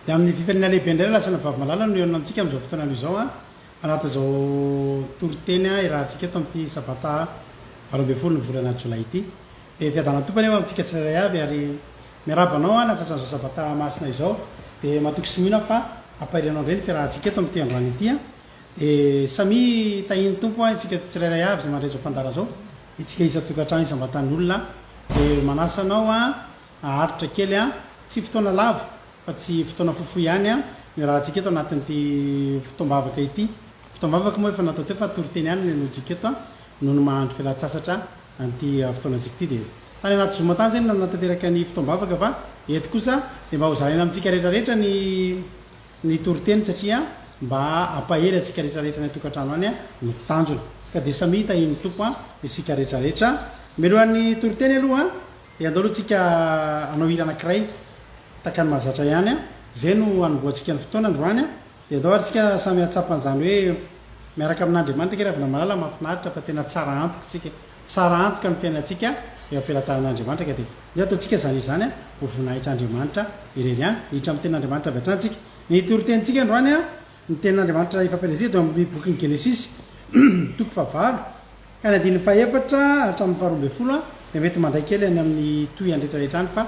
Ny amin'ny fifaliana lehibe indray no lasana vavy malala no hihaonana amintsika amin'izao fotoana izao anatin'izao toriteny irahantsika eto amin'ity sabata valo ambin'ny folo ny volana jolay ity. Dia fiadanan'ny Tompo anie ho amintsika tsirairay avy ary miarahaba anao aho nahatratra an'izao sabata masina izao. Dia matoky sy mino aho fa hampahery anao indray ny fiarahantsika eto amin'ity androany ity. Dia samia tahian'ny Tompo isika tsirairay avy izay mandray izao fandaharana izao, isika isan-tokantrano, isam-batan'olona. Dia manasa anao Haharitra kely an! Tsy fotoana lava fa tsy fotoana fohy fohy ihany an! no iarahantsika eto anatin'ity fotoam-bavaka ity. Fotoam-bavaka moa efa natao teo fa toriteny ihany no henointsika eto an! noho ny maha-andro fialan-tsasatra an'ity fotoanantsika ity dia tany anaty zoom tany izay no nanatanteraka ny fotoam-bavaka fa eto kosa dia mba hozaraina amintsika rehetrarehetra ny ny toriteny satria mba hampahery antsika rehetrarehetra any an-tokantrano any no tanjona ka dia samia tahiny Tompo an! isika rehetrarehetra. Melohan'ny toriteny aloha an! Dia andao aloha tsika hanao hira anankiray tahaka ny mahazatra ihany an! Izay no hanombohantsika ny fotoana androany an! Dia andao ary tsika samy hahatsapa an'izany hoe miaraka amin'Andriamanitra ange Ravilamalala an! Mahafinaritra fa tena tsara antoka tsika, tsara antoka ny fiainantsika eo am-pelatanan'Andriamanitra ka dia ndeha atao tsika izany izany an! Ho voninahitr'Andriamanitra irery an! Hiditra amin'ny tenin'Andriamanitra avy hatrany tsika. Ny toritenintsika androany an! Ny tenin'Andriamanitra ifampielezehina teo amin'ny bokin'ny Genesisy, toko fahavalo, ka ny andininy fahefatra hatramin'ny faharoa ambin'ny folo dia mety mandray kely any amin'ny tohihany rehetrarehetra any, fa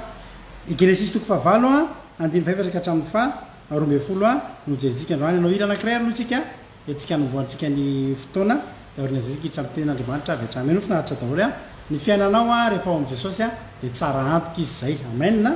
ny Genesisy toko fahavalo andininy fahefatra ka hatramin'ny faharoa ambin'ny folo no hojerintsika androany. Hanao hira anankiray ary aloha isika entintsika hanombohantsika ny fotoana, dia aorian'izay isika hiditra amin'ny tenin'Andriamanitra avy hatrany. Mino finaritra daholo ny fiainanao rehefa ao amin'i Jesosy, dia tsara antoka Izy izay. Amen.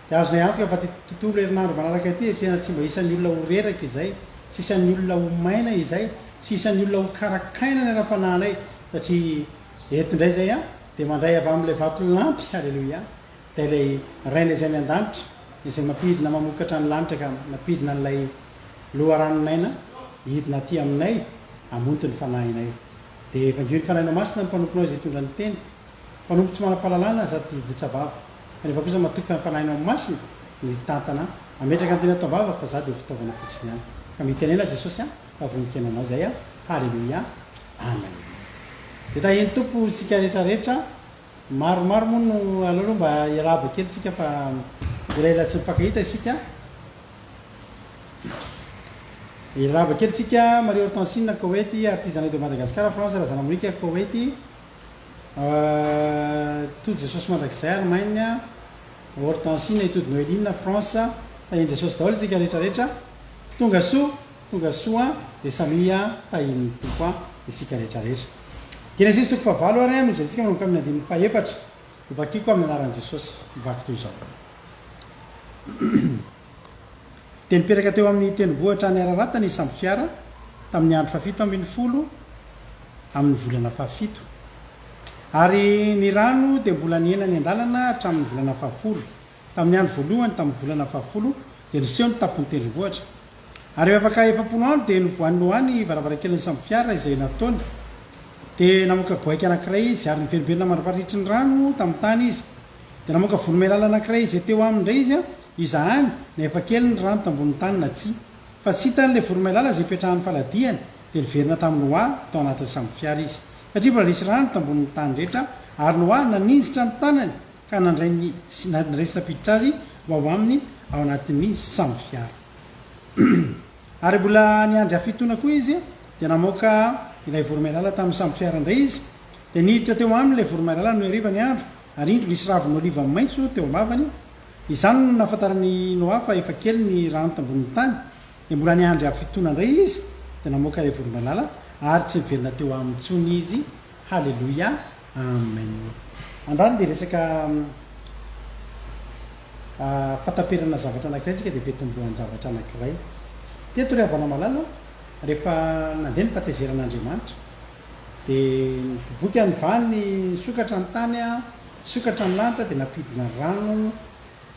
Dia azonay antoka fa ity tontolo herinandro manaraka ity dia tena tsy mba isan'ny olona ho reraka izay, tsy isan'ny olona ho maina izay, tsy isan'ny olona ho karakaina ny ara-panahinay, satria eto indray izay an, dia mandray avy amin'ilay Vatolampy, Aleloia, dia ilay Rainay izay any an-danitra, izay mampidina mamokatra ny lanitra ka mampidina an'ilay Loharanon'aina hidina aty aminay hamonto ny fanahinay. Dia evanjio ny Fanahinao Masina ny mpanomponao izay hitondra ny teny. Mpanompo tsy manam-pahalalana aza ty votsavava. Rehefa kosa matoky ampanahina ho masina no hitantana ametraka ny teny ataovavako fa za dia fitaovana fotsiny ihany ka mitenena Jesosy a fa vonon-kena anao zay a haleloia amen dia tahian'i Tompo isika rehetra rehetra maromaro moa no aleo aloha mba iarahaba kely tsika fa ilay ilay tsy mipankahita isika iarahaba kely tsika Marie Hortensine Koweït artizana de Madagascar France Razanamorika Koweït Tojo Jesosy mandrakizay ary mainy a Hortensie na i Tojo Noeline na France tahian'i Jesosy daholo isika rehetra rehetra tonga soa tonga soa dia samia tahian'ny Tompo a isika rehetra rehetra Genesisy toko fahavalo ary a no jerentsika manomboka amin'ny andininy fahefatra no vakiko amin'ny anaran'i Jesosy mivaky toy izao dia nipetraka teo amin'ny tendrombohitra any Ararata ny sambo fiara tamin'ny andro fahafito ambin'ny folo amin'ny volana fahafito, ary ny rano dia mbola nihena ny an-dalana hatramin'ny volana fahafolo. Tamin'ny andro voalohany tamin'ny volana fahafolo dia niseho ny tampon'ny tendrombohitra, ary rehefa afaka efapolo andro dia novohan'i Noa ny varavarankelin'ny sambo fiara izay nataony. Dia namoaka goaika anankiray izy, ary niverimberina mandra-paritry ny rano tamin'ny tany izy. Dia namoaka voromailala anankiray izay teo aminy indray izy, izahany na efa kely ny rano tambonin'ny tany na tsia. Fa tsy hitany ilay voromailala izay ipetrahan'ny faladiany, dia niverina tamin'i Noa tao anatin'ny sambofiara izy. Satria mbola nisy rano tambonin'ny tany rehetra, ary Noa naninjitra ny tanany ka nandray ny resy nampiditra azy ho ao aminy ao anatin'ny sambofiara. Ary mbola niandry hafitoana koa izy, dia namoaka ilay voromailala tamin'ny sambofiara indray izy, Dia niditra teo aminy ilay voromailala no iarivan'ny andro, ary indro nisy ravin' oliva maitso teo am-bavany, izany no nahafantaran'i Noa fa efa kely ny rano tambonin'ny tany, dia mbola niandry havintoana indray izy, dia namoaka ilay voromailala, ary tsy niverina teo aminy intsony izy. Haleloia! Amen! Androany dia resaka fahataperana zavatra anankiray antsika, dia fitomboan-javatra anankiray. Teto ry havana malala, rehefa nandeha ny fahatezeran'Andriamanitra, Dia niboboka ny vaniny nisokatra ny tany, nisokatra ny lanitra dia nampidina rano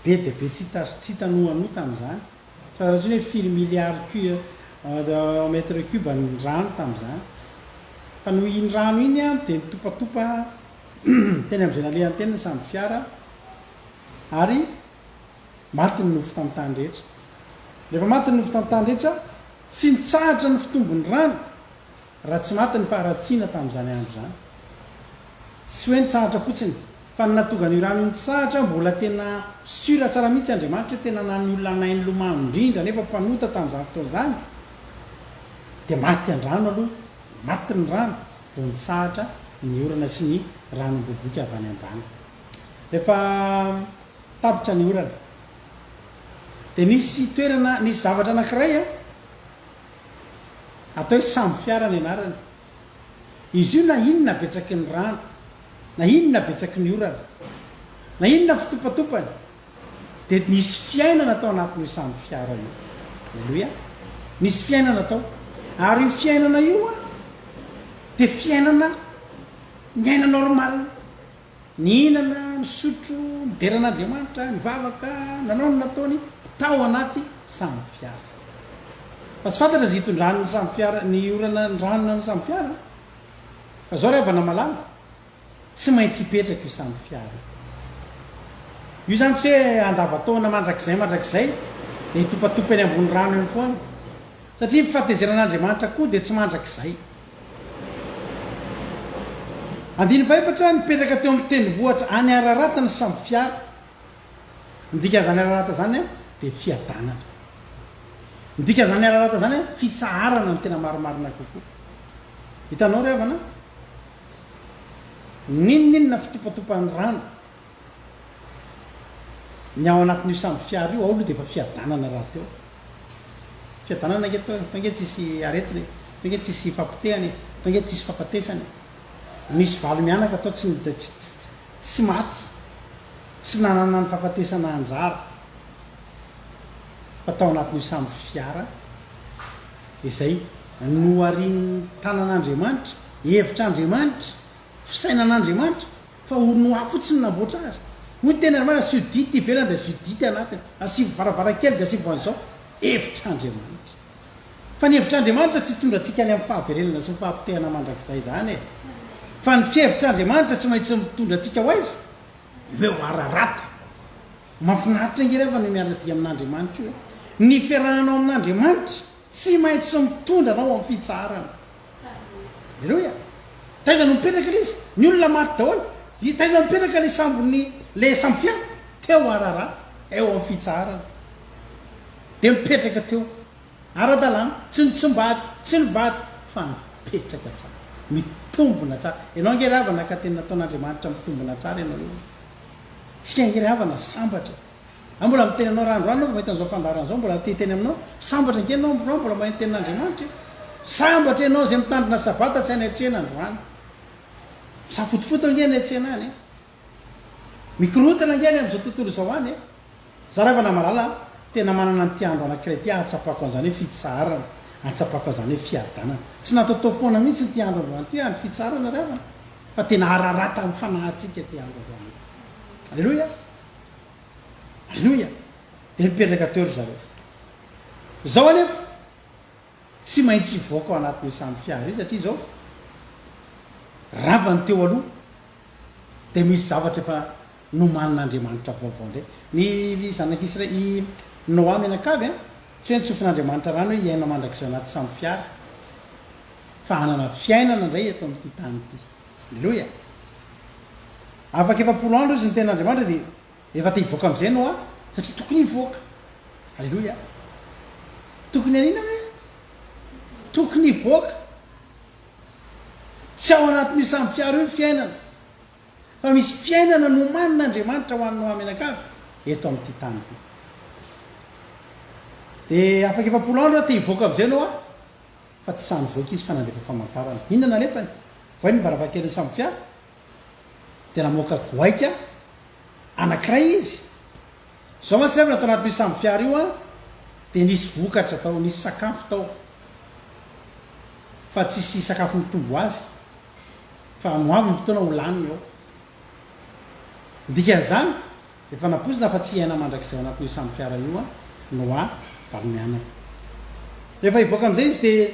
be dia be tsy hita noanoa tamin'izany. Tsy fantatra intsony hoe firy milliards mètres cubes ny rano tamin'izany. Fa noho iny rano iny dia nitopatopa teny amin'izay nalehany teny ny sambo fiara ary maty ny nofo tamin'ny tany rehetra. Rehefa maty ny nofo tamin'ny tany rehetra, tsy nitsahatra ny fitombon'ny rano Raha tsy maty ny faharatsiana tamin'izany andro izany. Tsy hoe nitsahatra fotsiny, fa ny nahatonga an'io rano io nitsahatra, mbola tena sûr tsara mihitsy Andriamanitra hoe tena na ny olona nahay nilomano indrindra nefa mpanota tamin'izany fotoana izany dia maty an-drano aloha, maty ny rano vao nitsahatra ny orana sy ny rano miboiboika avy any ambany. Rehefa tapitra ny orana dia nisy toerana, nisy zavatra anankiray Atao hoe sambo fiara ny anarany. Izy io na inona betsaky ny rano, na inona betsaky ny orana, na inona fitopatopany, dia nisy fiainana tao anatin'io sambo fiara io. Aleloia! Nisy fiainana tao. Ary io fiainana io dia fiainana miaina normal. Nihinana, nisotro, nidera an'Andriamanitra, nivavaka, nanao ny nataony tao anaty sambofiara. Fa tsy fantatra izay hitondrany ny sambofiara, ny orana niranona ny sambofiara. Fa izao ry havana malala, tsy maintsy hipetraka io sambofiara io. Io izany tsy hoe andavan-taona mandrakizay mandrakizay, dia hitopatopa eny ambony rano eny foana. Satria ny fahatezeran'Andriamanitra koa dia tsy mandrakizay. Andinifaefatra, Nipetraka teo amin'ny tendrombohitra any Ararat ny sambo fiara. Ny dikan'izany Ararat izany dia fiadanana. Ny dikan'izany Ararat izany fitsaharana ny tena marimarina kokoa. Hitanao ry havana? N'inon'inona fitopatopan'ny rano. Ny ao anatin'io samy fiara io ao aloha dia efa fiadanana rahateo. Fiadanana ange atao e, atao ange tsy hisy aretina e, atao ange tsy hisy fahapotehana e, atao ange tsy hisy fahafatesana e. Misy valo mianaka tao tsy tsy maty, tsy nanana ny fahafatesana anjara fa tao anatin'io samy fiara izay noharian'ny tanan'Andriamanitra, hevitr'Andriamanitra, fisainan'Andriamanitra Fa ony noa fotsiny namboatra azy. Hoy teny ary marina, Judite ivelany dia Judite anatiny. Asivo varavarankely dia asivo an'izao. Hevitr'Andriamanitra. Fa ny hevitr'Andriamanitra tsy hitondra antsika any amin'ny fahaverenana sy ny fahapotehana mandrakizay izany e. Fa ny fihevitr'Andriamanitra tsy maintsy mitondra antsika ho aiza? Ho eo Ararata. Mahafinaritra ange rehefa ny miara-dia amin'Andriamanitra io e. Ny fiarahanao amin'Andriamanitra tsy maintsy mitondra anao amin'ny fitsaharana. Aleloia! Taiza no mipetraka ilay izy? Ny olona maty daholo. I, taiza mipetraka ilay sambon'ny, ilay sambofiara? Teo Ararat, eo amin'ny fitsaharana. Dia mipetraka teo. Ara-dalàna. Tsy ny tsy mivady, tsy ny vady, fa mipetraka tsara. Mitombona tsara. Ianao ange ry havana ka tena nataon'Andriamanitra mitombona tsara ianao eo. Isika ange ry havana sambatra. An mbola miteny anao raha androany aho vao mahita an'izao fandaharana izao mbola te hiteny aminao sambatra ange ianao androany mbola mahay ny tenin'Andriamanitra e sambatra ianao izay mitandrina sabata tsy any an-tsena androany misafotofoto ange any an-tsena any e mikorotana ange any amin'izao tontolo izao any e zara fa namalala tena manana an'ity andro anankiray ity ahatsapako an'izany hoe fitsaharana ahatsapako an'izany hoe fiadanana tsy nataotao foana mihitsy ity andro androany ity andro fitsaharana ry havana fa tena hararatan'ny fanahintsika ity andro androany ity aleloia Aleloia! Dia mipetraka teo ry zareo. Izao anefa, tsy maintsy hivoaka ao anatin'io samy fiara io satria izao, rava ny teo aloha, dia misy zavatra efa nomanin'Andriamanitra vaovao indray. Ny zanak'Isra i Noa mianakavy, an, tsy hoe nitsofin'Andriamanitra rano hoe hiaina mandrakizay ao anaty samy fiara, fa hanana fiainana indray eto amin'ity tany ity. Aleloia! Afaka efapolo andro izy niteny an'Andriamanitra dia efa te hivoaka amin'izay Noa satria tokony hivoaka. Aleloia! Tokony hanina hoe? Tokony hivoaka. Tsy ao anatin'io samy fiaro io ny fiainana. Fa misy fiainana nomanin'Andriamanitra ho an'i Noa mianakavy eto amin'ity tany ity. Dia afaka efapolo andro aho te hivoaka amin'izay Noa. fa tsy sahy nivoaka izy fa nandefa famantarana. Inona no alefany? Voay ny varavarankelin'ny sambo fiara dia namoaka goaika anankiray izy. Izao mantsy rehefa tao anatin'io sambo fiara io an, dia nisy vokatra tao, nisy sakafo tao. Fa tsisy sakafo mitombo ho azy. Fa ho avy ny fotoana ho laniny ao. Ny dikan'izany, Efa nampoizina fa tsy hiaina mandrakizay ao anatin'io samy fiara io an, Noa valo mianaka. Rehefa hivoaka amin'izay izy dia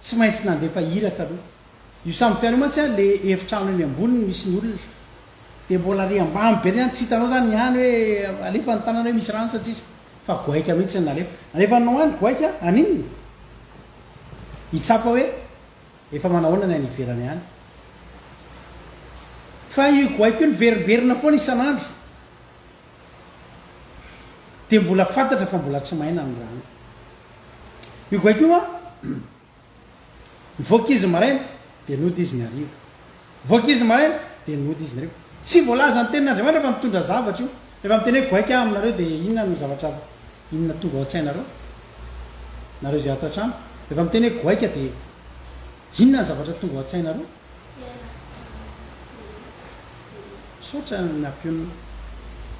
tsy maintsy nandefa iraka aloha. Io samy fiara io mantsy an, le efitrano eny amboniny misy ny olona. Dia mbola ary ambany be niany, tsy hitanao zany ny any hoe alefa ny tanana hoe misy rano sa tsisy. Fa goaika mihitsy ny nalefa. Nalefan'i Noa ny goaika, haninona? Hitsapa hoe Efa manahoana ny any ivelany any? Fa io goaika io niverimberina foana isan'andro dia mbola fantatra fa mbola tsy maina ny rano. Io goaika io an, nivoaka izy maraina dia nody izy ny hariva. Vao ankizy maraina dia nody izy ireo. Tsy voalaza ny tenin'Andriamanitra fa nitondra zavatra io. Rehefa miteny hoe goaika aho aminareo dia inona no zavatra inona tonga ao an-tsainareo? Nareo izay ato an-trano, rehefa miteny hoe goaika dia inona ny zavatra tonga ao an-tsainareo? Misaotra ny nampionona.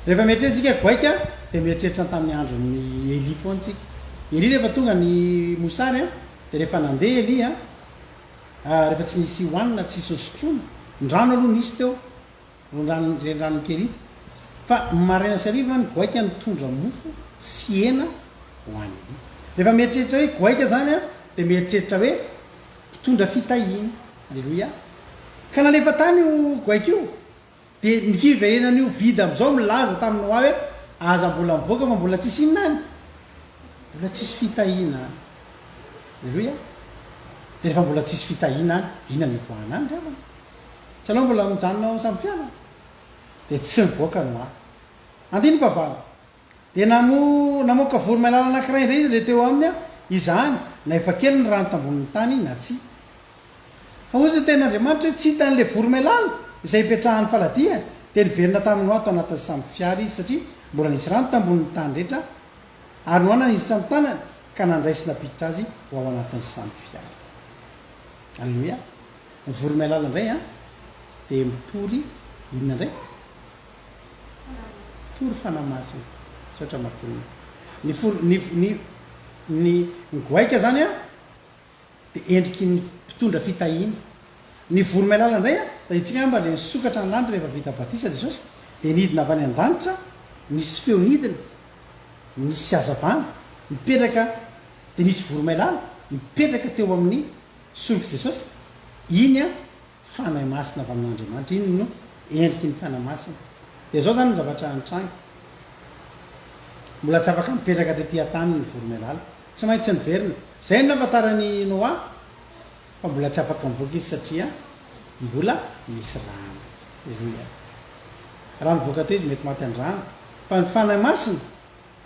Rehefa mieritreritsika goaika dia mieritreritra ny tamin'ny andron'ny Elia foana tsika. Elia rehefa tonga ny mosary dia rehefa nandeha Elia Ah rehefa tsy nisy hohanina tsy sosotroina, ny rano aloha nisy teo, reny renirano Nikerita, fa maraina sy hariva ny goaika nitondra mofo sy hena hohanina. Rehefa mieritreritra hoe goaika zany aho dia mieritreritra hoe mpitondra fitahiana. Aleloia. Ka nalefa tany io goaika io. Dia ny fiverenan'io vide amin'izao milaza tamin'ny hoa hoe, Aza mbola mivoaka fa mbola tsisy inona any? Mbola tsisy fitahiana any. Aleloia. Dia rehefa mbola tsisy fitahiana any, inona no hivoahana any ry havana? Tsy ianao mbola mijanona ao amin'ny samy fiara? Dia tsy mivoaka ny hoa. Andininy fahavalo. Dia namo, namoaka voromailala anankiray indray izy ilay teo aminy, izany na efa kely ny rano tambonin'ny tany na tsia. Fa hoy izay Tenin'Andriamanitra hoe, Tsy hita an'ilay voromailala, izay hipetrahan'ny faladiany. Dia niverina tamin'ny noa tao anatin'ny sambo fiara izy, satria mbola nisy rano tambonin'ny tany rehetra, ary noana ny isotry ny tanany, ka nandray sy nampiditra azy ho ao anatin'ny sambo fiara. Aleloia! Ny voromailala indray an, dia mitory inona indray? Tory fanahy masina misaotra matonina. Ny folo ny ny ny goaika zany a de endriky ny mpitondra fitahiana. Ny voromailala ndray a tahintsika angamba le nisokatra ny lanitra rehefa vita batisa Jesosy de nidina avy any an-danitra nisy feo nidina nisy hazavana nipetraka de nisy voromailala nipetraka teo amin'ny sorok'i Jesosy. Iny a Fanahy Masina avy amin'Andriamanitra. Iny no endriky ny Fanahy Masina. Dia izao izany ny zavatra nitranga. Mbola tsy afaka nipetraka tety an-tany ny voromailala. Tsy maintsy niverina. Izay no nahafantaran'i Noa fa mbola tsy afaka mivoaka izy satria mbola misy rano. Aleloia. Raha mivoaka teo izy mety maty an-drano. Fa ny Fanahy Masina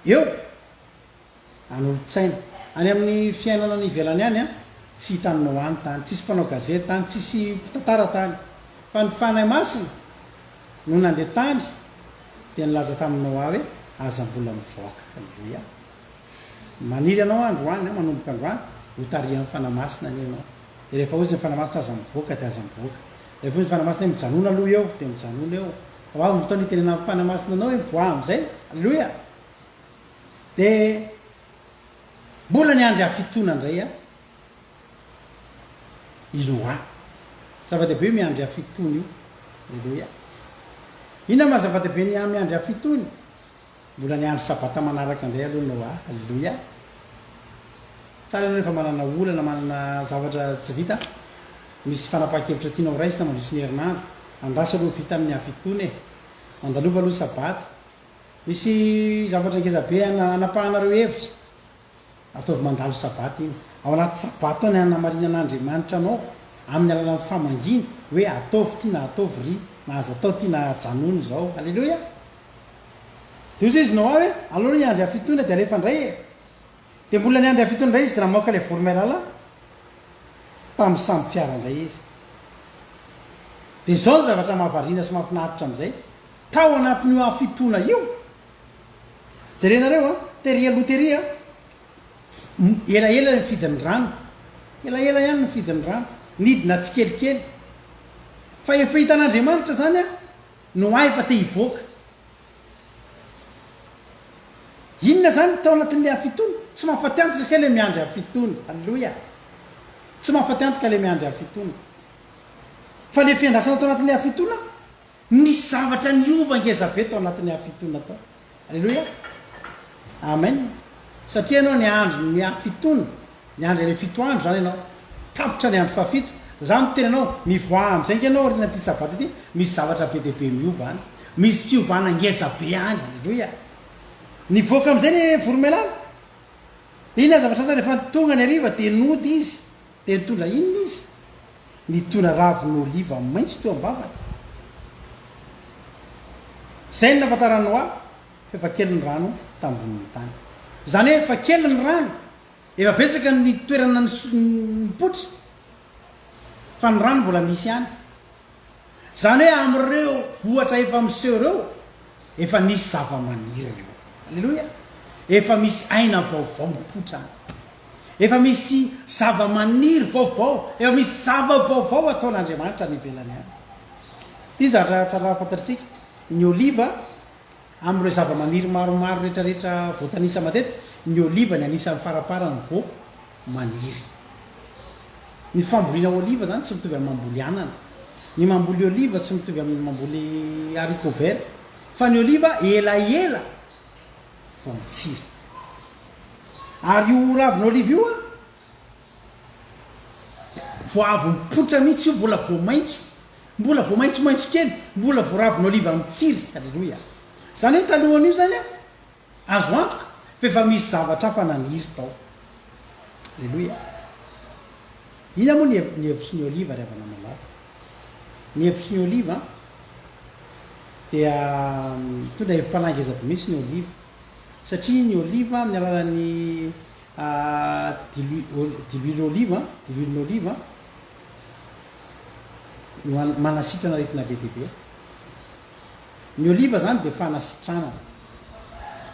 eo. an'olon-tsaina. Any amin'ny fiainana any ivelany any an, tsy hitanao any tany, tsisy mpanao gazety tany, tsisy mpitantara tany, fa ny Fanahy Masina no nandeha tany dia nilaza tamin'i Noa hoe, aza mbola mivoaka, Haleloia, maniry ianao androany, manomboka androany, ho tarihan'ny Fanahy Masina anie ianao, dia rehefa hoy izy ny Fanahy Masina aza mivoaka dia aza mivoaka, rehefa hoy ny Fanahy Masina hoe mijanona aloha eo dia mijanona eo, hoavy ny fotoana hitenenan'ny Fanahy Masina anao hoe mivoaha amin'izay, Haleloia. Dia mbola niandry hafitona indray an i Loha. Zava-dehibe io miandry hafitona io. Aleloia. Inona maha zava-dehibe ny miandry hafitony? Mbola niandry sabata manaraka indray aloha Noa. Aleloia. Tsara ianao rehefa manana olana, manana zavatra tsy vita, misy fanapahan-kevitra tianao raisina mandritra ny herinandro. Andraso aloha ho vita amin'ny hafitona e. Mandalova aloha ny sabata. Misy zavatra ngeza be anapahanareo hevitra, ataovy mandalo sabata iny, ao anaty sabata ao ny hanamarinana Andriamanitra anao amin'ny alalan'ny famangiana hoe ataovy ity na ataovy ry na aza atao ity na ajanony izao. Aleloia! Dia ozy izy no avy aleo ry andry hafitoina dia alefa indray e! Dia mbola ny andry hafitoina indray izy dia namoaka ilay voromailala tamin'ny samy fiara indray izy. Dia izao ny zavatra mahavariana sy mahafinaritra amin'izay, Tao anatin'io andro fitoana io, jerenareo an, tery aloha tery an, elaela ny fidin'ny rano, elaela ihany ny fidin'ny rano, nidina tsikelikely. Fa efa hitan'Andriamanitra izany an, no hay fa te hivoaka. Inona izany ny tao anatin'ilay andro fitoana? Tsy mahafaty antoka kay ilay miandry andro fitoana. Aleloia. Tsy mahafaty antoka ilay miandry andro fitoana. Fa ilay fiandrasana tao anatin'ilay andro fitoana, Misy zavatra niova ngeza be tao anatin'ny hafitona tao. Aleloia. Amen. Satria ianao niandry ny hafitona, niandry an'ilay fito andro izany ianao. Tapitra ny andro fahafito. Izaho miteny anao, mivoaha amin'izay nga ianao aorian'ity sabata ity, misy zavatra be dia be miova any. Misy fiovana ngeza be any. Aleloia. Nivoaka amin'izay ilay voromailala. Inona zavatra anao rehefa tonga ny hariva dia nody izy. Dia nitondra inona izy? Nitondra ravin'oliva maitso teo am-bavany. Izay no nahafantaran'i Noa fa efa kely ny rano tambonin'ny tany. Izany hoe efa kely ny rano, efa betsaka ny toerana nipoitra, fa ny rano mbola misy ihany. Izany hoe amin'ireo vohitra efa miseho ireo, efa nisy zava-maniry eo. Aleloia! Efa misy aina vaovao mipoitra any. Efa misy zava-maniry vaovao, efa misy zava-baovao ataon'Andriamanitra any ivelany any. Ity zavatra tsara fantatsika, ny oliva Amin'ireo zavamaniry maromaro rehetrarehetra voatanisa matetika, ny oliva ny anisan'ny faraparany vao maniry. Ny fambolina oliva izany tsy mitovy amin'ny mamboly anana. Ny mamboly oliva tsy mitovy amin'ny mamboly haricots verts, fa ny oliva elaela vao mitsiry. Ary io ravin'oliva io an! Vao avy mipoitra mihitsy io, mbola vao maitso, mbola vao maitsomaitso kely, mbola vao ravin'oliva mitsiry. Alléluia. Izany hoe talohan'io izany an, azo antoka fa efa misy zavatra hafa naniry tao. Alléluia. Inona moa ny hev, ny hevitry ny oliva ry havana malala? Ny hevitry ny oliva an, dia mitondra hevi-panahy ngeza be mihitsy ny oliva. Satria ny oliva amin'ny alalan'ny Diluile olive, diluilen'oliva, no manasitrana aretina be dia be. Ny oliva zany dia fanasitranana.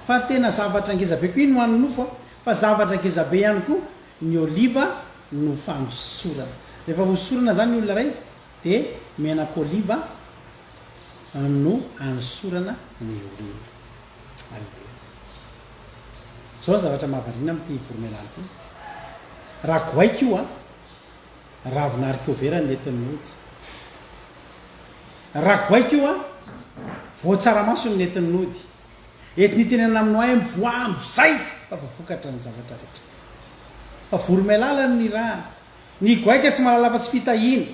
Fa tena zavatra ngeza be koa iny ho an'ny nofo a. Fa zavatra ngeza be ihany koa ny oliva no fanosorana. Rehefa hosorana zany ny olona iray. Dia menak'oliva no anosorana ny olona. Aleloia. Izao ny zavatra mahavariana amin'ity voromailala ity. Raha goaika io an, ravina harikovera no nentin'ny nody. Raha goaika io an, voan-tsaramaso no nentin'ny nody. Eto nitenenana aminao ahy mivoaha amin'izay fa voavokatra ny zavatra rehetra. Fa voromailala no nirahana. Ny goaika tsy mahalala afa-tsy fitahiana.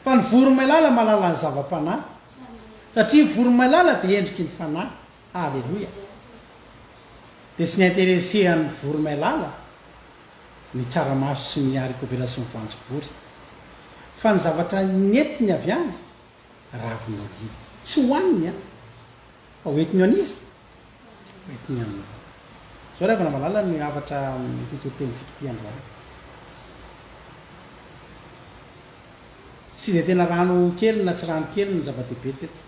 Fa ny voromailala mahalala ny zava-panahy. Satria ny voromailala dia endriky ny fanahy. Aleloia. Dia tsy niinteressehan'ny voromailala ny tsaramaso sy ny harikovera sy ny voanjobory. Fa ny zavatra nentiny avy any, ravin' oliva. Tsy hohaniny an! Fa hoentiny ho an'iza? Mety ny anao. Zao ry havana malala ny havatra hototentsika ity androany. Tsy dia tena rano kely na tsy rano kely no zava-dehibe teto.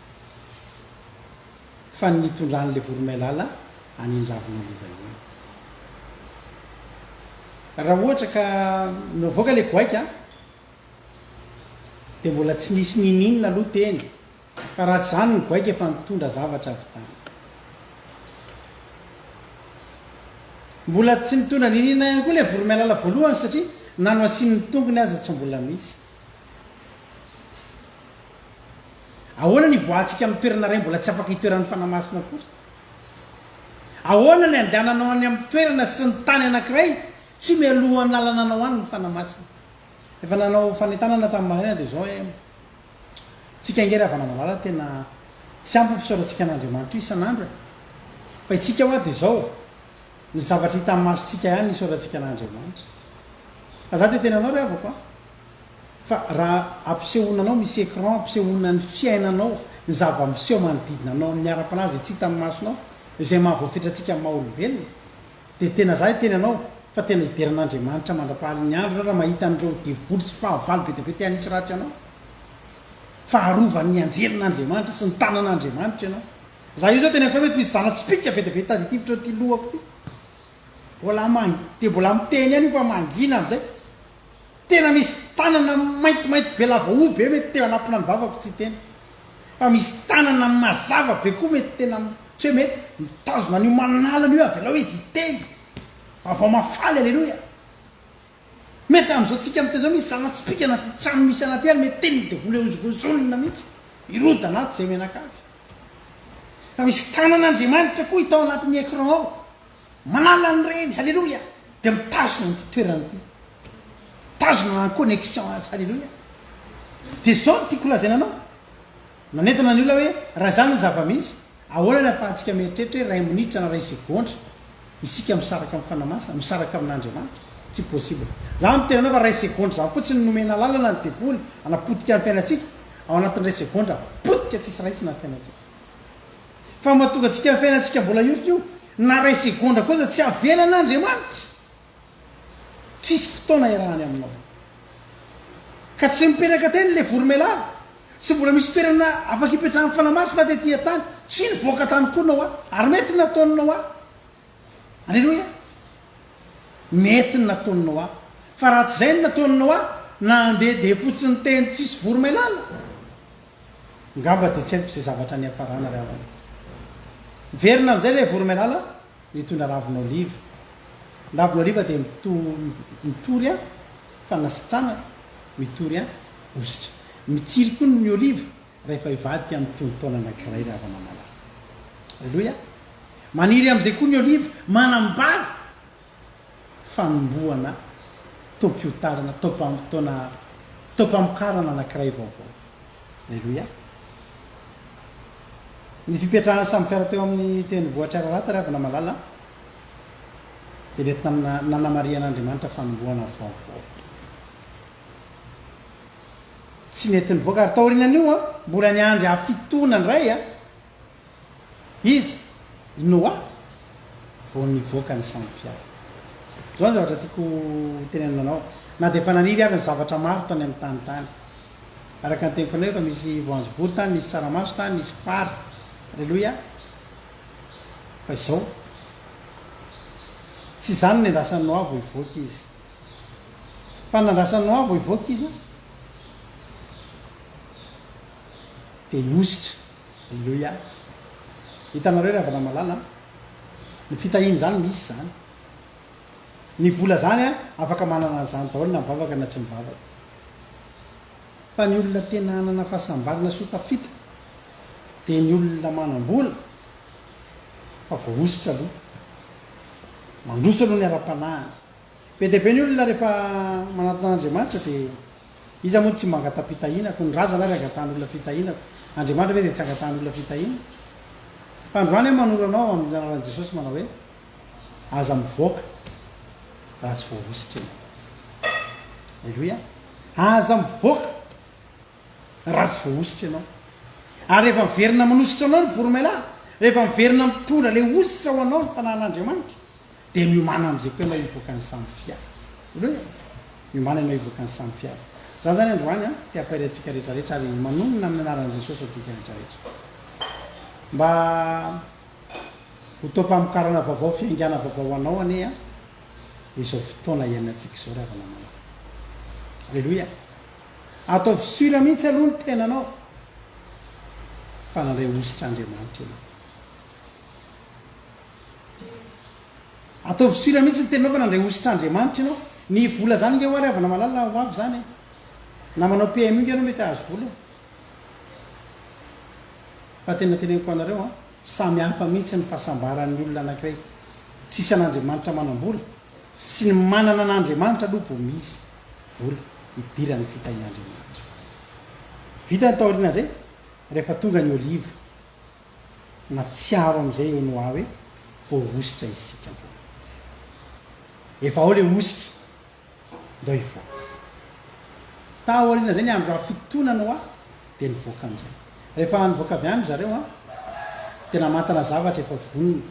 Fa ny nitondran'ilay voromailala any Indravin'oliva iny. Raha ohatra ka navoaka ilay goaika dia mbola tsy nisy n'inon'inona aloha teny. Fa raha tsy izany ny goaika efa nitondra zavatra avy tany. Mbola tsy nitondra niniana ihany koa ilay voromailala voalohany satria na no asian'ny tongony aza tsy mbola misy. Ahoana ny ivoahantsika amin'ny toerana iray mbola tsy afaka itoeran'ny fanahy masina akory? Ahoana ny andehananao any amin'ny toerana sy ny tany anankiray tsy mialohan'ny lalananao any ny fanahy masina? Efa nanao fanentanana tamin'ny maraina dia izao aho. Tsika ange Ravanamalala tena tsy ampy ny fisaorantsika an'Andriamanitra isan'andro e! Fa itsika hoa dia izao, ny zavatra hita amin'ny masontsika ihany no isaorantsika an'Andriamanitra. Fa za dia tena anao ry havako a! Fa raha ampisehoana anao misy écran ampisehoana ny fiainanao, ny zava-miseho manodidina anao amin'ny ara-panahy izay tsy hitan'ny masonao, izay maha voafetrantsika amin'ny maha olombelona, Dia tena zah hiteny anao fa tena hidera an'Andriamanitra mandrapahalin'ny andro ianao raha mahita an'ireo devoly sy fahavalo be dia be te hanitsy ratsy anao. Fa arovan'ny anjelin'Andriamanitra sy ny tanan'Andriamanitra ianao. Zah io zao tena efa mety misy zana-tsipìka be dia be taditivitra eo ity lohako ity. Mbola man, dia mbola miteny ihany io fa mangina amin'izay. Tena misy tanana maintimainty be lava hoho be mety teo anampina ny vavako tsy hiteny. Fa misy tanana mazava be koa mety tena tsy hoe mety mitazona an'io manalana io avelao izy hiteny. Vavao mafaly aleloia. Mety amin'izao tsika miteny izao misy zava-tsipika anaty trano misy anaty air mety teny ny devoly hozongozonina mihitsy hiroda anaty izay menakavy. Fa misy tanan'Andriamanitra koa hita ao anatin'ny écran ao. Manala ny reny, haleloia, dia mitazona ny fitoerany koa. Mitazona en connexion azy, haleloia. Dia izao no tiako lazaina anao, nanentana ny olona hoe, raha izany ny zava-misy, ahoana ny ahafahantsika mieritreritra hoe iray minitra na iray segondra isika misaraka amin'ny Fanahy Masina, misaraka amin'Andriamanitra? Tsy possible. Izaho miteny anao fa iray segondra izany fotsiny nomena alalana ny devoly hanapotika ny fiainantsika, ao anatin'ny iray segondra, potika tsisy raisina ny fiainantsika. Fa mahatonga antsika amin'ny fiainantsika mbola hiorina io na iray segondra koa aza tsy havelan' Andriamanitra. Tsisy fotoana hiarahany aminao. Ka tsy mipetraka teny ilay voromelara. Tsy mbola misy toerana afaka hipetrahan'ny Fanahy Masina tety an-tany. Tsy nivoaka tany koa Noa. Ary mety nataon'i Noa. Aleloia. Mety ny nataon'i Noa. Fa raha tsy izay ny nataon'i Noa, na handeha dia fotsiny teny tsisy voromailala. Ngamba dia tsy haiko izay zavatra niafarana ry havana. Miverina amin'izay ilay voromailala nitondra ravin'oliva. Ny ravin'oliva dia mitory an, fanasitranana, mitory an, hositra. Mitsiry koa ny oliva rahefa hivadika amin'ny tonon-taona anankiray ry havana malala. Aleloia! Maniry amin'izay koa ny oliva, manambady fanombohana taom-piotazana, taom-pamotoana, taom-pamokarana anankiray vaovao. Aleloia! Ny fipetrahan'i Sam Ferre teo amin'ny tenivohitr'i Ararat, ry havana malala, dia nentina na- nanamarihan'Andriamanitra fanombohana vaovao. Tsy nety nivoaka, ary taorian'io an, mbola niandry hafitoana indray an, Iza? I Noa vao nivoaka ny sambo-fiara. Izao ny zavatra tiako hotenenina anao, na dia efa naniry ary ny zavatra maro tany amin'ny tany tany. Araka ny teniko anao, efa misy voanjobory tany, nisy tsaramaso tany, nisy fary. Aleloia! Fa izao, tsy izany no niandrasan'i Noa vao hivoaka izy. Fa ny nandrasan'i Noa vao hivoaka izy dia ny hositra. Aleloia. Hitanareo ry havana malala an. Ny fitahiana izany misy izany. Ny vola izany an, afaka manana an'izany daholo na mivavaka na tsy mivavaka. Fa ny olona tena hanana fahasambarana sy ho tafita dia ny olona manam-bola fa voahosotra aloha. Mandroso aloha ny ara-panahiny. Be dia be ny olona rehefa manatona an'Andriamanitra dia Iza moa no tsy mangata-pitahiana? Koa ny razana ary angatahan'olona fitahiana koa. Andriamanitra ve dia tsy angatahan'olona fitahiana? Fa androany aho manoro anao amin'ny anaran'i Jesosy manao hoe, aza mivoaka raha tsy voahositra ianao. Aleloia. Aza mivoaka raha tsy voahositra ianao. Ary rehefa miverina manositra anao ny voromailala, rehefa miverina mitondra ilay hositra ho anao ny fanahin'Andriamanitra, Dia miomàna amin'izay tena hivoaka ny samy fiara. Ireo e! Miomàna ianao hivoaka ny samy fiara. Izany izany androany an, te hampahery antsika rehetrarehetra ary manonona amin'ny anaran'i Jesosy antsika rehetrarehetra. Mba ho taom-pamokarana vaovao, fiaingàna vaovao ho anao anie an, izao fotoana iainantsika izao ry havana-mananako. Aleloia! Ataovy sûr mihitsy aloha ny tenanao fa nandray hosotra Andriamanitra ianao. Ataovy sira mihitsy ny teninao fa nandray hositr'Andriamanitra ianao. Ny vola zany nge hoary havana malala ho avy zany e. Na manao PMU nge ianao mety ahazo vola e. Fa tena teneniko anareo an, samy hafa mihitsy ny fahasambaran'ny olona anankiray. Tsisy an'Andriamanitra manambola. Sy ny manana an'Andriamanitra aloha vao misy vola hidiran'ny fitahin'Andriamanitra. Vita ny taorian'izay, rehefa tonga ny oliva. Natsiaro amizay eo ny hoa hoe voahositra isika roa. Efa ao le hositra, ndao hivoaka. Tao aoriana zay ny andro raha fitotoana ny hoa dia nivoaka amizay. Rehefa nivoaka avy any zareo an, dia namantana zavatra efa vonona,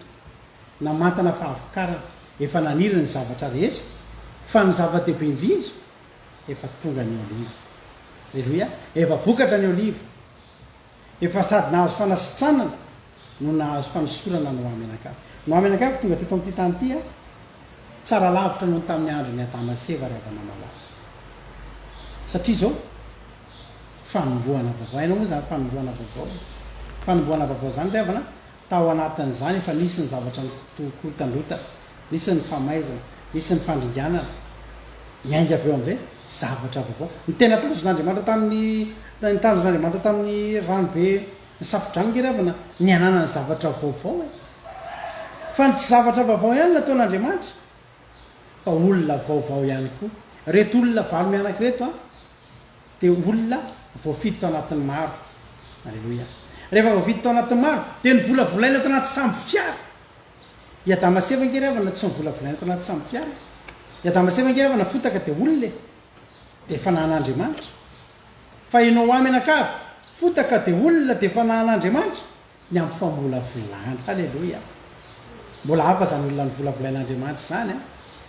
namantana fahavokarana, efa naniry ny zavatra rehetra, fa ny zava-dehibe indrindra, efa tonga ny oliva. Reloia, efa vokatra ny oliva. Efa sady nahazo fanasitranana no nahazo fanosorana no Amenakavy. No Amenakavy tonga teto amin'ity tany ity an! Tsara lavitra noho ny tamin'ny andron'i Adama sy Eva ry havanamalala. Satria izao, fanombohana vaovao. Hainao moa izany fanombohana vaovao e? Fanombohana vaovao izany ry havana an! Tao anatin'izany efa nisy ny zavatra nikorotandrotana, nisy ny famaizana, nisy ny fandringanana. Miainga avy eo amin'izay zavatra vaovao. Ny tena tanjon'Andriamanitra tamin'ny, ny tanjon'Andriamanitra tamin'ny ranobe nisafodranogeravana, ny hananany zavatra vaovao e. Fa ny tsy zavatra vaovao ihany nataon'Andriamanitra, fa olona vaovao ihany koa. Ireto olona valo mianaka ireto an, Dia olona voafidy tao anatin'ny maro. Aleloia. Rehefa voafidy tao anatin'ny maro, dia novolavolaina tao anaty sambo fiara. I Adama sy Eva ange ry havana tsy novolavolaina tao anaty sambo fiara e. I Adama sy Eva ange ry havana fotaka dia olona e. Dia efa nahan'Andriamanitra. Fa ianao ho ahy mianakavy, fotaka dia olona dia efa nahan'Andriamanitra. ny amin'ny famolavolana. Haleloia! Mbola hafa izany olona novolavolain'Andriamanitra izany an!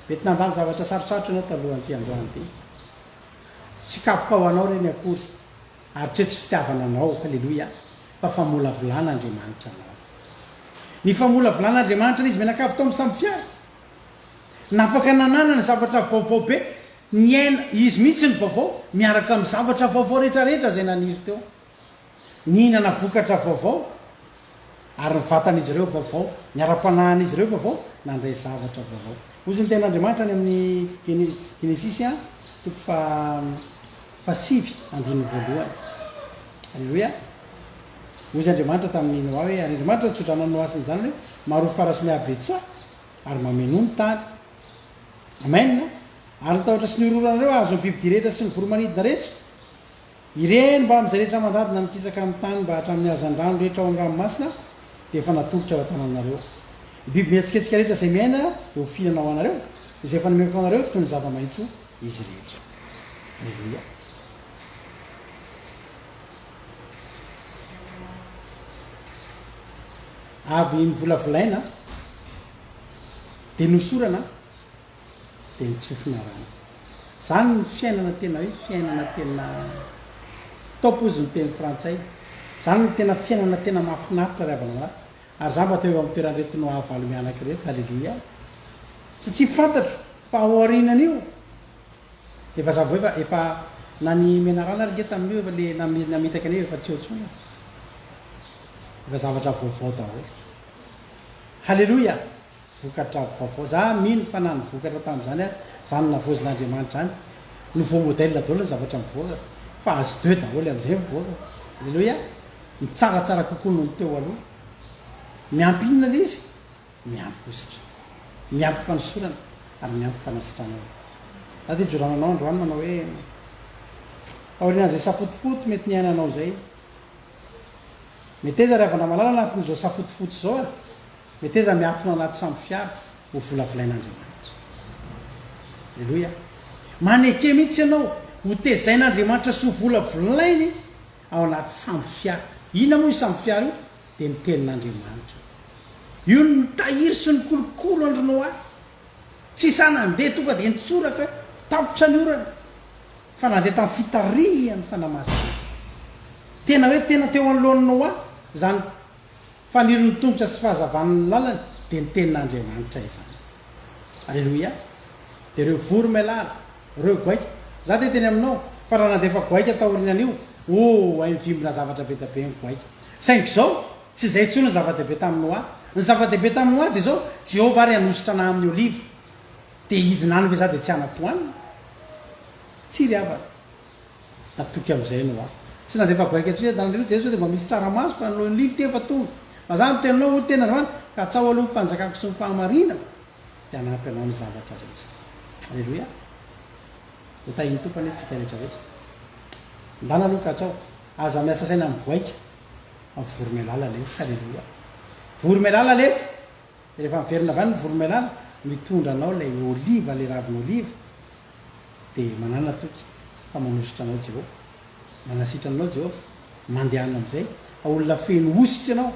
Mety nandalo zavatra sarotsarotra ianao talohan'ity androany ity. Tsy kapoka ho anao ireny akory, ary tsy hoe tsy fitiavana anao, haleloia, fa famolavolan'Andriamanitra anao. Ny famolavolan'Andriamanitra an'izy mianakavy tao amin'ny sambofiara, napaka nananana ny zavatra vaovao be, niaina izy mihitsy ny vaovao, miaraka amin'ny zavatra vaovao rehetrarehetra izay naniry teo. Nihinana vokatra vaovao, ary ny vatan'izy ireo vaovao, ny ara-panahin'izy ireo vaovao, nandray zavatra vaovao. Hoy izay ny Tenin'Andriamanitra any amin'ny Genesisy a, toko faha fahasivy, andininy voalohany. Aleloia! Hoy izay Andriamanitra tamin'i Noa hoe, ary Andriamanitra nitsodrano an'i Noa sy ny zanany hoe, Maroho fara sy mihabetsaha, ary mamenoa ny tany. Amen! Ary ny tahotra sy ny horohoranareo hahazo ny bibidia rehetra sy ny voromanidina rehetra. Ireny mbamin'izay rehetra mandadina mikisaka amin'ny tany mba hatramin'ny hazandrano rehetra ao amin'ny ranomasina dia efa natolotro ao an-tananareo. Ny biby mihetsiketsika rehetra izay miaina dia ho fihinana ho anareo, izay efa nomeko anareo toy ny zava-maitso izy rehetra. Aleloia. Avy novolavolaina dia nosorana. dia nitsofina rano. Izany no fiainana tena hoe fiainana tena top ozy ny teny frantsay. Izany no tena fiainana tena mahafinaritra ry havana lahy. Ary izaho mba teo amin'ny toeran'ireto nohavalo mianaka ireto, haleloia. Satria fantatro fa ao aorianan'io dia vaza vao efa efa na ny menarana ary nge tamin'io efa le namitaka an'io efa tsy eo intsony e. Efa zavatra vaovao daholo. Haleloia. vokatra vaovao. Za mino fa na ny vokatra tamin'izany ary zany navoazin'Andriamanitra zany nouveau modèle daholo ny zavatra mivoaka fa azy deux daholo amizay mivoaka. Alléluia! Mitsaratsara kokoa noho ny teo aloha. Miampy inona le izy? Miampy hositra. Miampy fanosorana ary miampy fanasitranana. Za de ijorana anao androany manao hoe aorianan'izay safotofoto mety niainanao zay. Meteza ry havana malala anatin'izao safotofoto zao a! Meteza miantona anaty sambo fiara ho volavolain'Andriamanitra. Aleloia. Maneke mihitsy ianao ho tezain'Andriamanitra sy ho volavolainy ao anaty sambo fiara. Inona moa io sambo fiara io? Dia ny tenin'Andriamanitra. Io no nitahiry sy nikolokolo an-dry Noa. Tsy sahy nandeha tonga dia nitsoraka hoe tapitra ny orana, fa nandeha tamin'ny fitarihan'ny Fanahy Masina. Tena hoe tena teo anoloan'i Noa izany Fanirin'ny tongotra sy fahazavan'ny lalany dia ny tenin'Andriamanitra izany. Aleloia! Dia ireo vory melala, ireo goaika, Izaho dia teny aminao, fa raha nandefa goaika taorianan'io, oh, hay mivimbina zavatra be dia be ny goaika. Saingy izao, tsy izay intsony ny zava-dehibe tamin'i Noa. Ny zava-dehibe tamin'i Noa dia izao, Jehovah ary hanosotra anà amin'ny oliva. Dia hidina any ve izaho dia tsy hanatoanina? Tsia ry havana. Natoky amin'izay Noa. Tsy nandefa goaika intsony eto an-tany. Hoy Jesosy, Dia mba misy tsaramaso, fa ny lohan'olivy ity efa tonga. Raha izany no teninao, hoy ny teniny androany, ka atsaho aloha ny fanjakako sy ny fahamarinako, dia hanampy anao ny zavatra rehetra. Aleloia! Ho tahin'ny Tompo anie tsika rehetra rehetra. Ndana aloha ka atsaho. Aza miasa saina amin'ny goaika. Fa vory mialala alefa. Aleloia! Vory mialala alefa. Rehefa miverina avy any ny voromailala, mitondra anao ilay oliva, ilay ravin'oliva, dia manàna toky fa manosotra anao Jehovah. Manasitrana anao Jehovah. Mandehana amin'izay. Fa olona feno hositra ianao.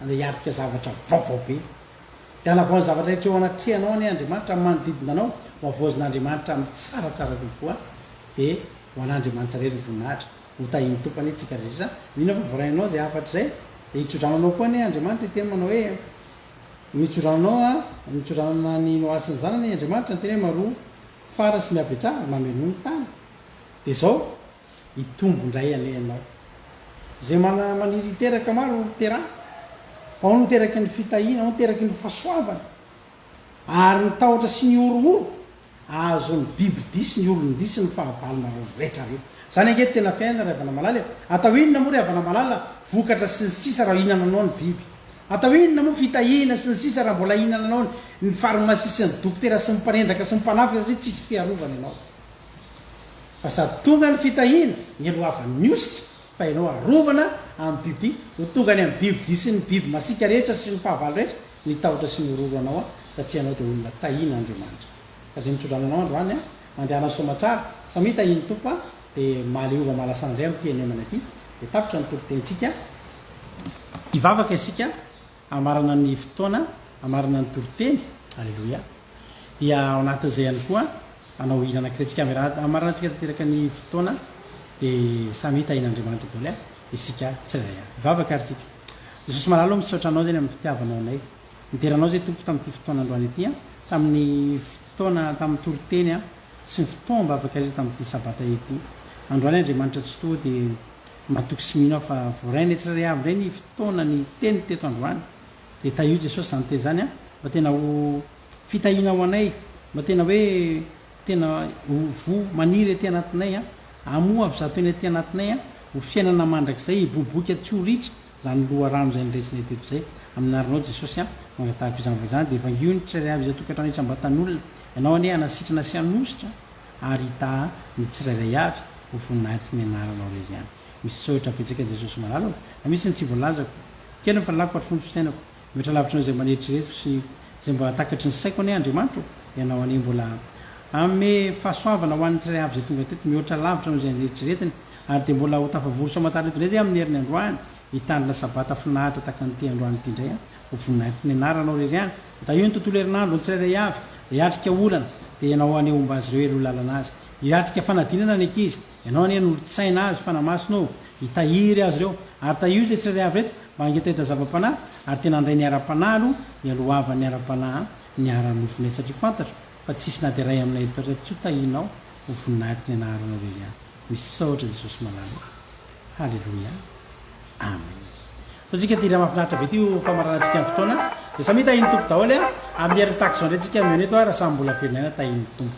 Andeha hiatrika zavatra vaovao be. Dia hanavao ny zavatra rehetra eo anatrehanao anie Andriamanitra, amin'ny manodidina anao, ho havaozin'Andriamanitra amin'ny tsaratsara kokoa. Dia ho an'Andriamanitra irery ny voninahitra. Ho tahin'ny Tompo anie tsika rehetra izany. Mino aho fa voaray anao izay hafatra izay. Dia hitsodrano anao koa anie Andriamanitra hiteny manao hoe, Mitsodrano anao an, mitsodrano an'i Noa sy ny zanany anie Andriamanitra, niteny hoe Maroa fara sy mihabetsahana ary mamenoa ny tany. Dia izao, hitombo indray anie ianao. Izay mana maniry hiteraka maro ho terahy. Fa hono ho teraky ny fitahiana, hono teraky ny fahasoavana. Ary ny tahotra sy ny horohoro. Azon'ny biby disy ny olon-disy ny fahavalonareo retra reo. Zany ange tena fiainana ry havana malala e! Atao inona moa ry havana malala vokatra sy ny sisa raha hinananao ny biby? Atao inona moa fitahihina sy ny sisa raha mbola hinananao ny farmasia sy ny dokotera sy ny mpanendaka sy ny mpanafika satria tsisy fiarovana ianao fa sady tonga ny fitahihina nialohavan'ny hosotra fa ianao arovana amin'ny biby ho tonga any amin'ny biby disy ny biby masiaka rehetra sy ny fahavalo rehetra Ny tahotra sy ny hororo anao an, satria ianao dia olona tahiana Andriamanitra. Ka dia mitsodrano anao androany an, mandehana soamatsara, samia tahian'ny Tompo an, dia mahaleova mahalasa indray amin'ity hanemanay ity, dia tapitra ny toriteny-tsika, hivavaka isika hamarana ny fotoana hamarana ny toriteny, Aleloia, dia ao anatin'izay ihany koa hanao hira anankiray tsika, hamarana tsika tanteraka ny fotoana, dia samia tahian'Andriamanitra daholo an. Isika tsy iray ihany. Vavaka ary tsika. Jesosy malala ô misaotra anao zany amin'ny fitiavanao anay. Midera anao zay Tompo tamin'ity fotoana androany ity an, tamin'ny fotoana tamin'ny toriteny an, sy ny fotoam-bavaka rehetra tamin'ity sabata ity. Androany Andriamanitra Tsitoha dia matoky sy mino aho fa voarainay tsirairay avy indray ny fotoana ny teny teto androany. Dia tahio Jesosy izany teny izany an, mba tena ho fitahiana ho anay, mba tena hoe Tena ho voa maniry aty anatinay an! Amoa avy zato eny aty anatinay an! Ho fiainana mandrakizay hiboiboika tsy ho ritra izany loharano izay niraisinay teto izay. Amin'ny anaranao Jesosy an! no angatahiko izany fa izany dia vangio ny tsirairay avy izay tokantrano isam-batan'olona. Ianao anie hanasitrana sy hanositra ary hitaha ny tsirairay avy ho voninahitry ny anaranao irery ihany. Misaotra betsaka Jesosy malala o! Raha misy ny tsy voalazako, kely ny fahalalako ary fohy ny fisainako. Mihoatra lavitra an'izay mba neritreretiko sy izay mba takatry ny saiko anie Andriamanitra ô! Ianao anie mbola hanome fahasoavana ho an'ny tsirairay avy izay tonga teto mihoatra lavitra noho izay neritreretiny ary dia mbola ho tafavory soa aman-tsara eto indray izay amin'ny herin'ny androany hitandrina Sabata finaritra tahaka an'ity androany ity indray aho. Ho voninahitry ny Anaranao irery ihany dia tahio ny tontolo herinandro ny tsirairay avy izay hiatrika olana dia Ianao anie homba azy ireo eo lalana azy hiatrika fanadinana ny ankizy Ianao anie no olon-tsaina azy fanamasina ô! Hitahiry azy ireo. Ary tahio izay tsy rehaavy eto, mba hangetaheta zava-panahy, ary tena handray ny ara-panahy aloha ny alohavan'ny ara-panahy ny ara-nofonay, satria fantatro fa tsisy na dia iray aminay eto taty tsy ho tahianao ho voninahitriny anaranao irery aho. Misaotra Jesosy malala e! Haleloia! Amen! Ataontsika ity hira mahafinaritra be ity ho famaranantsika ny fotoana, dia samia tahian'ny Tompo daholo e! Amin'ny herin'ny tahaka izao indray tsika mihaona eto ary samy mbola velona ihany tahian'ny Tompo.